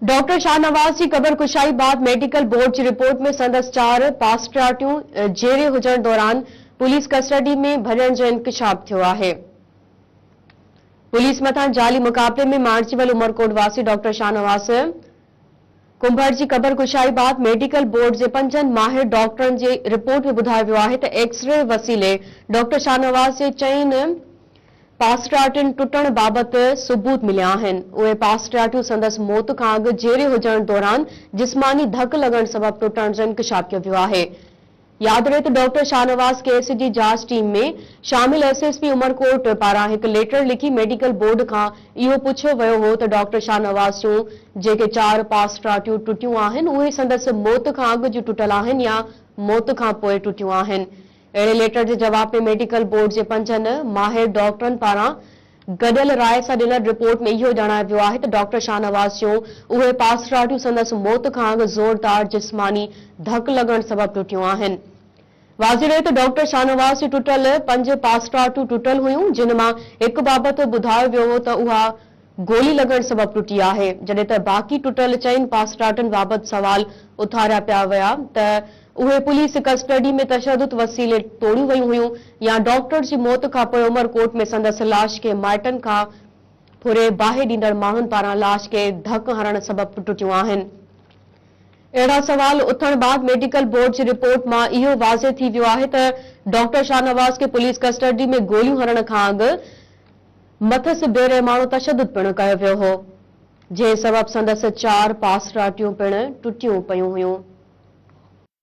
Doctor Shahnawaz جي قبر ڪشائي بعد ميڊيڪل بورڊ جي رپورٽ ۾ سندس چار پاسپرارٽيون جيئري هجڻ دوران پوليس ڪسٽرڊي ۾ ڀڃڻ جو انڪشاف ٿيو آهي. پوليس مٿان جعلي مقابلي ۾ مارجي ويل عمرڪوٽ واسي ڊاڪٽر شاهنواز ڪنڀر جي قبر ڪشائي بعد ميڊيڪل بورڊ جي پنجن ماهر ڊاڪٽرن جي رپورٽ ۾ ٻڌايو ويو آهي ته ايڪسري وسيلي ڊاڪٽر شاهنواز جي چئن پاسٽرياٽن ٽٽڻ بابت ثبوت مليا آهن. اهي پاسٽرياٽون سندس موت کان اڳ جيئري هجڻ دوران جسماني ڌڪ لڳڻ سبب ٽٽڻ جو انڪشاف ڪيو ويو آهي. ياد رهي ته ڊاڪٽر شاهنواز ڪيس جي جاچ ٽيم ۾ شامل ايس ايس پي عمرڪوٽ پاران هڪ ليٽر لکي ميڊيڪل بورڊ کان اهو پڇيو ويو هو ته ڊاڪٽر شاهنواز جون جيڪي چار پاسٽرياٽون ٽٽيون آهن اهي سندس موت کان اڳ جون ٽٽل آهن يا موت کان پوء ٽٽيون آهن. اهڙي ليٽر جي جواب ۾ ميڊيڪل بورڊ جي پنجن ماهر ڊاڪٽرن پاران گڏيل راء سان ڏنل رپورٽ ۾ اهو ڄاڻايو ويو آهي ته ڊاڪٽر شاهنواز جون اهي پاسراٽيون سندس موت کان اڳ زوردار جسماني ڌڪ لڳڻ سبب ٽٽيون آهن. واضح رهي ته ڊاڪٽر شاهنواز جون ٽٽل پنج پاسراٽيون ٽٽل هيون جن مان هڪ بابت ٻڌايو ويو هو ته اها گولي لڳڻ سبب ٽٽي آهي، جڏهن ته باقي ٽٽل چئن پاسٽارٽن بابت سوال اٿاريا پيا ويا ته اهي پوليس ڪسٽڊي ۾ تشدد وسيلي ٽوڙيون ويون هيون يا ڊاڪٽر جي موت کان پوء عمر ڪوٽ ۾ سندس لاش کي مائٽن کان پھري باهه ڏيندڙ ماڻهن پاران لاش کي ڌڪ هڻڻ سبب ٽٽيون آهن. اهڙا سوال اٿڻ بعد ميڊيڪل بورڊ جي رپورٽ مان اهو واضح ٿي ويو آهي ته ڊاڪٽر شاهنواز کي پوليس ڪسٽڊي ۾ گوليون هڻڻ کان اڳ مٿس بي رحماڻو تشدد پڻ ڪيو ويو هو، جنهن سبب سندس چار پاسراٽيون پڻ ٽٽيون پيون هيون.